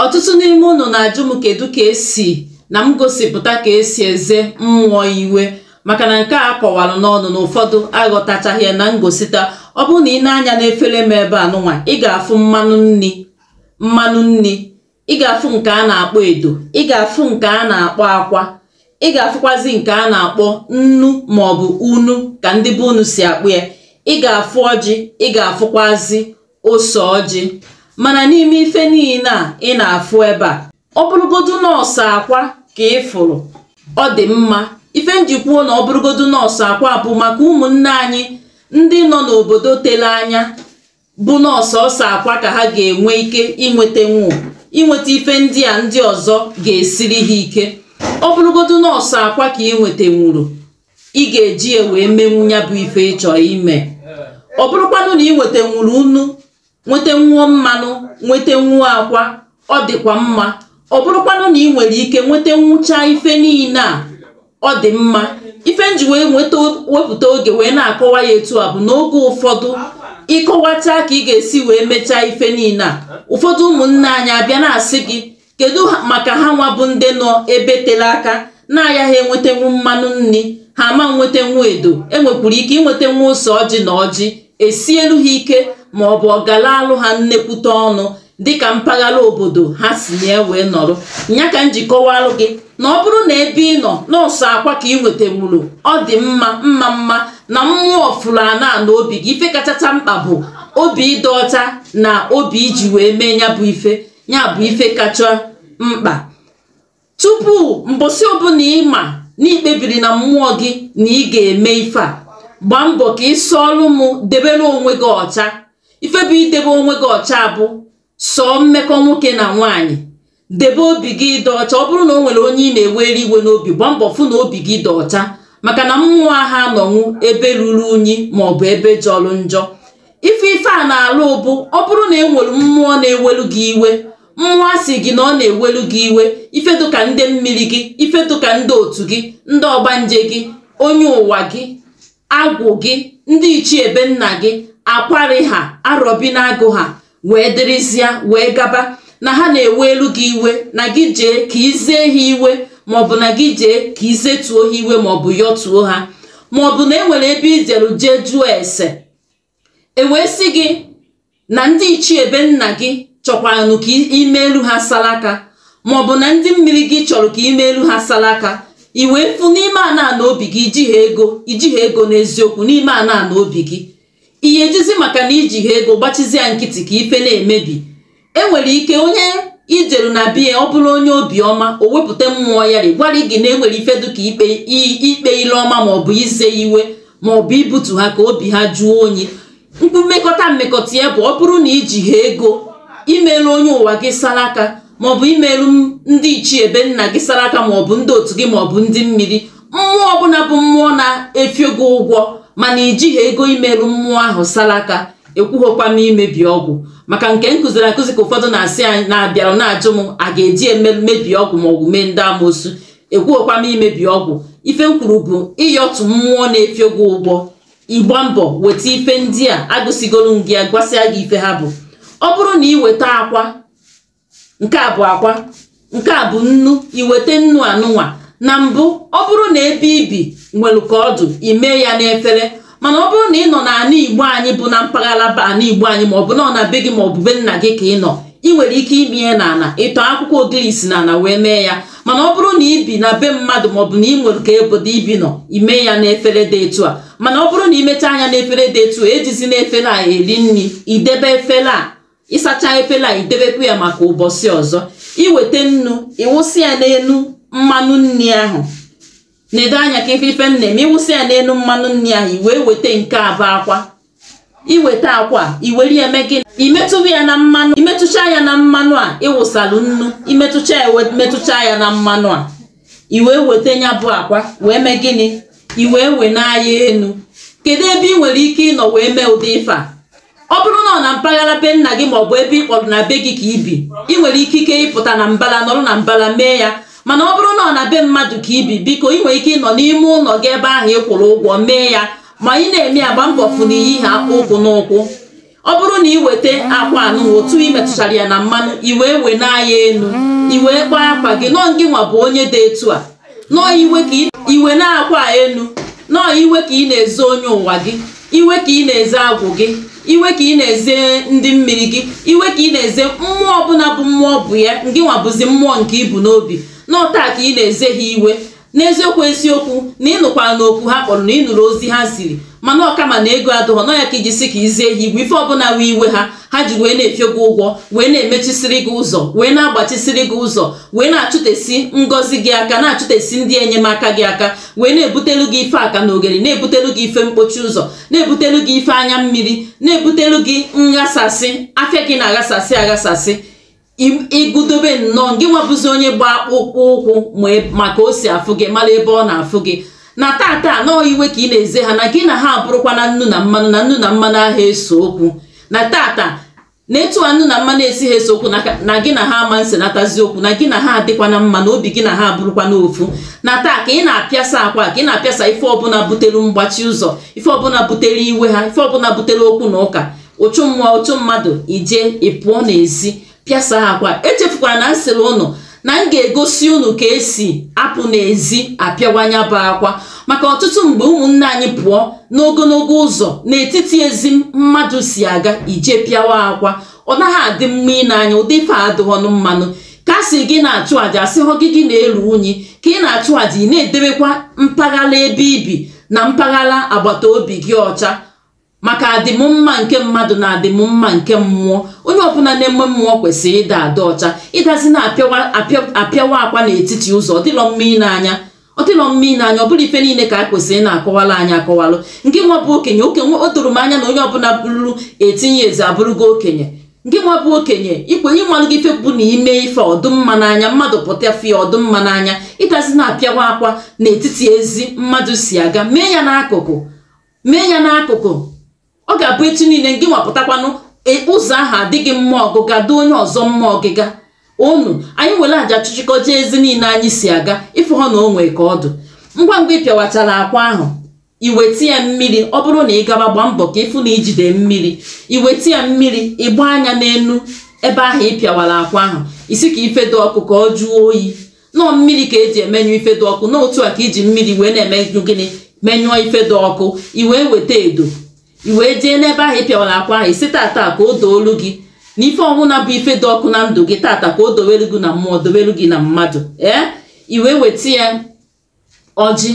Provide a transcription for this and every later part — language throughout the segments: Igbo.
ọtụtụ n'ime unu na-ajụ m kedu ka esi na m gosipụta ka esi eze mmụọ iwe maka na nke a kọwara n'ọnụ na ụfọdụ aghọtachaghị ya na ngosita ọ bụrụ na ị nee anya n'efere m ebe a nụnwa ị ga-afụ mmanụ nni ị ga-afụ nke a na-akpọ edo ị ga-afụ nke a na-akpọ akwa ị ga-afụkwazi nke a na-akpọ nnu maọbụ unu ka ndị be unu si akpọ ya ị ga-afụ ọjị ị ga-afụkwazi ose ọjị mana n'ime ife niile a ị na-afụ ebe a ọ bụrụgodu nnọọ sọ akwa ka ị fụrụ ọ dị mma ife m ji kwuo na ọ bụrụgodu nnọọ sọ akwa bụ maka ụmụnne anyị ndị nọ n'obodo tele anya bụ nnọọ sọsọ akwa ka ha ga-enwe ike inwetanwu inweta ife ndị a ndị ọzọ ga-esiri ha ike ọ bụrụgodu nnọọ sọ akwa ka ị nwetanwuru ị ga-eji ya wee menwu ya bụ ife ị chọ ime ọ bụrụkwanụ na ị nwetanwuru unu nwetanwuo mmanụ nwetanwuo akwa ọ dịkwa mma ọ bụrụkwanụ na ị nwere ike nwetanwucha ife niile a ọ dị mma ife m ji wee wepụta oge wee na-akọwa ya etu a bụ na oge ụfọdụ ị kọwachaa ka ị ga-esi wee mechaa ife niile a ụfọdụ ụmụnne anyị abịa na-asị gị kedu maka ha nwa bụ ndị nọ ebe tele aka na-ayaghị enwetenwu mmanụ nni ha ama nwetenwu edo e nwekwuru ike inwetenwu ose ọjị na ọjị esielu ha ike ma ọ bụ ọ galaalụ ha nnekwute ọnụ dịka mpaghara obodo ha si na wee nọrọ ya ka m ji kọwalụ gị na ọ bụrụ na ebe ị nọ nnọọ sọ akwa ka ị nwetanwuru ọ dị mma maka na mmụọ fụrụ ana ana obi gị ife kachacha mkpa bụ obi ịdị ọcha na obi i ji wee mee ya bụ ife ya bụ ife kacha mkpa tupu mbọsị ọbụla ị ma na i kpebiri na mmụọ gị na ị ga-eme ife a gbaa mbọ ka ị sọọrụ m debere onwe gị ọcha ife bụ idebe onwe gị ọcha bụ sọọ mmekọ nwoke na nwaanyị debe obi gị dị ọcha ọ bụrụ na o nwere onye ị na-ewere iwe n'obi gbaa mbọ fụ na obi gị dị ọcha maka na mmụọ aha anọnwu ebe ruru unyi maọbụ ebe jọrọ njọ ife ife a na-alụ bụ ọ bụrụ na e nwere mmụọ na-ewelu gị iwe mmụọ asị gị na ọ na-ewelu gị iwe ife dịka ndị mmiri gị ife dịka ndị otu gị ndị ọgbanje gị onye ụwa gị agwụ gị ndị ichie be nna gị akwarị ha arọbinagụ ha wee dịrịzịa wee gaba na ha na-ewelu gị iwe na gị jee ka i zee ha iwe maọbụ na gị jee ka i zetuo ha iwe maọbụ yọtuo ha maọbụ na e nwere ebe i jelu jee jụọ ese e wee sị gị na ndị ichie be nna gị chọkwaranụ ka i meelu ha salaka maọbụ na ndị mmiri gị chọrọ ka i meelu ha salaka i wee fụ n'ime ana ana obi gị i jiha ego n'eziokwu n'ime ana ana obi gị ihe ejizi maka na i jiha ego gbachizi ya nkịtị ka ife na-emebi enwere ike onye ijeru na be ya ọ bụrụ onye obiọma o wepụta mmụọ ya gwara gị na enwere ife dịka ikpe ile ọma maọbụ ize iwe maọbụ ibutu ha ka obi ha jụọ oyi unu mekọta mmekọta ya bụ ọ bụrụ na ijiha ego imeelu onye ụwa gị saraka maọbụ imeelu ndị ichie ebe nna gị saraka maọbụ ndị otu gị maọbụ ndị mmiri mmụọ ọbụla bụ mmụọ na-efio gị ụgwọ mana ijiha ego imeelu mmụọ ahụ saraka ekwughokwa m imebi ọgwụ maka nke m kụziri akụzi ka ụfọdụ na-asị anyị na-abịara na-ajụ m a ga-eji emebi ọgwụ maọbụ mee ndị amoosu ekwughokwa m imebi ọgwụ ife m kwuru bụ ịyọtụ mmụọ na-efio gị ụgwọ ịgba mbọ weta ife ndị a agụsigolu m gị ya gwasịa gị ife ha bụ ọ bụrụ na ị weta akwa nke a bụ akwa nke a bụ nnu iweta nnu anụnwa na mbụ ọ bụrụ na ebe ibi nwere ka ọ dụ ime ya n'efere mana ọ bụrụ na ị nọ n'ala igbo anyị bụ na mpaghara ala igbo anyị ma ọ bụ na ọ na be gị ma ọ bụ be nna gị ka ị nọ ị nwere ike ime ya n'ala ịtọ akwụkwọ ogirisi n'ala wee mee ya mana ọ bụrụ na ibi na be mmadụ maọbụ na ị nwere ka obodo ibi nọ ime ya n'efere dị etu a mana ọ bụrụ na imechaa ya n'efere dị etu a ejizina efere a eri nri idebe efere a ịsacha efere a idebekwa ya maka ụbọchị ọzọ iweta nnu ịwụsị ya n'elu mmanụ nri ahụ nedo anya ka ị fụ ife m na-eme ịwụsị ya n'elu mmanụ nri ahụ i wee weta nke a bụ akwa iweta akwa iwere ya mee gịnị imetụwa ya na mmanụ imetụcha ya na mmanụ a ịwụsalụ nnu imetụcha ya metụcha ya na mmanụ a i wee weta ya bụ akwa wee mee gịnị i wee wenie ya enu kedu ebe ị nwere ike ịnọ wee mee ụdị ife a ọ bụrụ na ọ na mpaghara be nna gị maọbụ ebe ị kpọrọ na be gị ka ibi ị nwere ikike ịpụta na mbala nọrọ na mbala mee ya mana ọ bụrụ na ọ na be mmadụ ka ibi biko ị nwere ike ịnọ n'ime ụlọ gị ebe ahụ ị kwụrụ ụgwọ mee ya ma ị na-eme ya gba mbọ fụ na iyiha akpụ ụkwụ n'ụkwụ ọ bụrụ na ị weta akwa anụ otu ị metụchara ya na mmanụ i wee wenie ya enu i wee kpaa akwa gị na ọ ngị nwa bụ onye dị etu a na ọ iwe ka i wenie akwa enu na ọ iwe ka ị na-eze onye ụwa gị iwe ka ị na-eze agwụ gị iwe ka ị na-eze ndị mmiri gị iwe ka ị na-eze mmụọ ọbụla bụ mmụọ bụ ya ngị nwa bụzi mmụọ nke ibu n'obi na ọ taa ka ị na-eze ha iwe n'eziokwu eziokwu na ị nụkwara na oku ha kpọrọ na ị nụrụ ozi ha ziri mana ọ kama na ego adụghọ na ọ ya ka iji si ka izee ha iwe ife ọbụla wee iwe ha ha ji wee na-efio gị ụgwọ wee na-emechisiri gị ụzọ wee na-agbachisiri gị ụzọ wee na-achụtesi ngọzi gị aka na-achụtesi ndị enyemaka gị aka wee na-ebutelu gị ife aka na oghere na-ebutelu gị ife mkpochi ụzọ na-ebutelu gị ife anya mmiri na-ebutelu gị nghasasị afịa gị na-aghasasị aghasasị ịgụdobe na ọọ gị nwa bụzi onye gba akpụkpọ ụkwụ ma ka o si afụ gị mara ebe ọ na-afụ gị na tata na ọọ iwe ka ị na-eze ha na gị na ha abụrụkwa na nnu na mmanụ na nnu na mmanụ anaghị ese okwu na tata na etu a nnu na mmanụ esighị ese okwu na gị na ha ama nsenatazi okwu na gị na ha adịkwa na mma na obi gị na ha abụrụkwa n'ofu na taa ka ị na-apịasa akwa ka ị na-apịasa ife ọbụla butere mgbachi ụzọ ife ọbụla butere iwe ha ife ọbụla butere okwu na ụka ụchụ mmụọ ụchụ mmadụ i jee ị pụọ n'ezi pịasa akwa echefukwara na m sịrị unu na m ga-egosi unu ka e si apụ n'ezi apịawa nya bụ akwa maka ọtụtụ mgbe ụmụnne anyị pụọ n'ogologo ụzọ n'etiti ezi mmadụ si aga ije pịawa akwa ọ naghị adị mma ine anya ụdị ife adịghọnụ mma nụ ka a sị gị na-achụ àjà asịhụ gị gị na-eru unyi ka ị na-achụ àjà ị na-edebekwa mpaghara ebe i bi na mpaghara agbata obi gị ọcha maka adịmmma nke mmadụ na adịmmma nke mmụọ onye ọbụla na-eme mmụọ kwesịrị ịda adị ọcha ịdazi na-apịawa akwa n'etiti ụzọ ọ dịlọ mma ile anya ọ dịlọ mma ile anya ọ bụrọ ife niile ka e kwesịrị na-akọwalụ anyị akọwalụ gị nwa bụ okenye okenye o doro m anya na onye ọbụla bụrụ eighteen years abụrụgo okenye gị nwa bụ okenye ikwenye ịmalụ gị ife bụ na i mee ife ọ dị mma n'anya mmadụ pụta fụ ya ọ dị mma n'anya ịdazi na-apịawa akwa n'etiti ezi mmadụ si aga mee ya n'akụkụ mee ya n'akụkụ ọ ga-abụ etu niile gị nwa pụtakwanụ e, ụzọ ahụ dị gị mma ọgụga dị onye ọzọ mma ọgịga unu anyị were aja chụchịkọ jee ezi niile anyị si aga ị fụha na o nwee ka ọ dị ngwa ngwa ị pịawachara akwa ahụ i weta ya mmiri ọ bụrụ na ị gaba gbaa mbọ ka ị fụ na i jide mmiri i weta ya mmiri ị gbanye n'elu ebe ahụ ị pịawara akwa ahụ ị sị ka ife dị ọkụ ka ọ jụọ oyi na ọọ mmiri ka e ji emenyụ ife dị ọkụ na otu a ka i ji mmiri wee na-eme gịnị menyụọ ife dị ọkụ i wee weta edo i wee jee n'ebe ahụ ị pịawara akwa ahụ ị sị tata ka o doolu gị na ife ọbụla bụ ife dị ọkụ na ndụ gị tata ka o dowelu gị na mmụọ dowelu gị na mmadụ ee i wee weta ya ọjị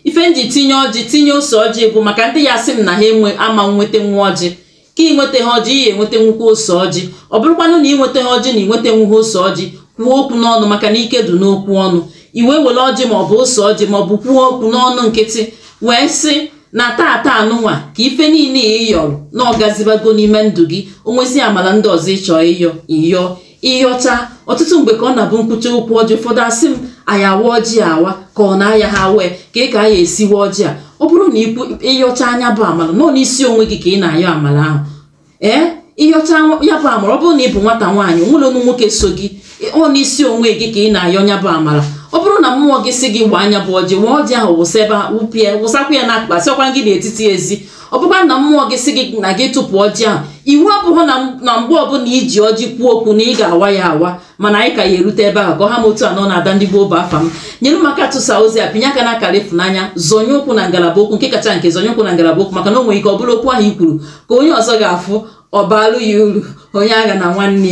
ife m ji tinye ọjị tinye ose ọjị bụ maka ndị ya-asị m na ha ama nwetanwu ọjị ka i nwetaha ọjị ị ya-enwetanwukwu ose ọjị ọ bụrụkwanụ na i nwetaha ọjị na i nwetanwuha ose ọjị kwuo okwu n'ọnụ maka na ike dị n'okwu ọnụ i wee were ọjị ma ọ bụ ose ọjị ma ọ bụ kwuo okwu n'ọnụ nkịtị wee sị na tata anụnwa ka ife niile ị yọrọ na ọ gazibago n'ime ndụ gị o nwezi amala ndị ọzọ ị chọ ịyọ ịyọ ị yọcha ọtụtụ mgbe ka ọ na-abụ m kwucha okwu ọjị ụfọdụ asị m a ya-awa ọjị awa ka ọ na a yaha awa ka a ya-esi wa ọjị a ọ bụrụ na ị yọcha nya bụ amala na ọọ n'isi onwe gị ka ị na-ayọ amala ahụ ee ị yọcha ya bụ amala ọ bụrụ na ị bụ nwata nwaanyị o nwerọnụ nwoke so gị ọ n'isi onwe gị ka ị na-ayọ nya bụ amala ọ bụrụ na mmụọ gị sị gị waa nya bụ ọjị waa ọjị ahụ wụsa ebe wụpịa wụsakwa ya n'akụkụ asịkwaghị n'etiti ezi ọ bụkwa na mmụọ gị si gị na gị tụpụ ọjị ahụ iwu abụghị na mgbe ọbụla i ji ọjị kwuo okwu na ị ga-awa ya awa mana anyị ka ya-erute ebe ahụ ka ọ ha m otu a nọ na-ada ndị gboo bụ afa m nyere m aka tụsa ozi a pịnye aka na akara ịfụnanya zọnye ụkwụ na ngalaba okwu nke kacha nke zọnye ụkwụ na ngalaba okwu maka na o nwere ike ọ bụrụ okwu ahụ i kwuru ka onye ọzọ ga-afụ ọ baalụ ya uru onye agha na nwanne ya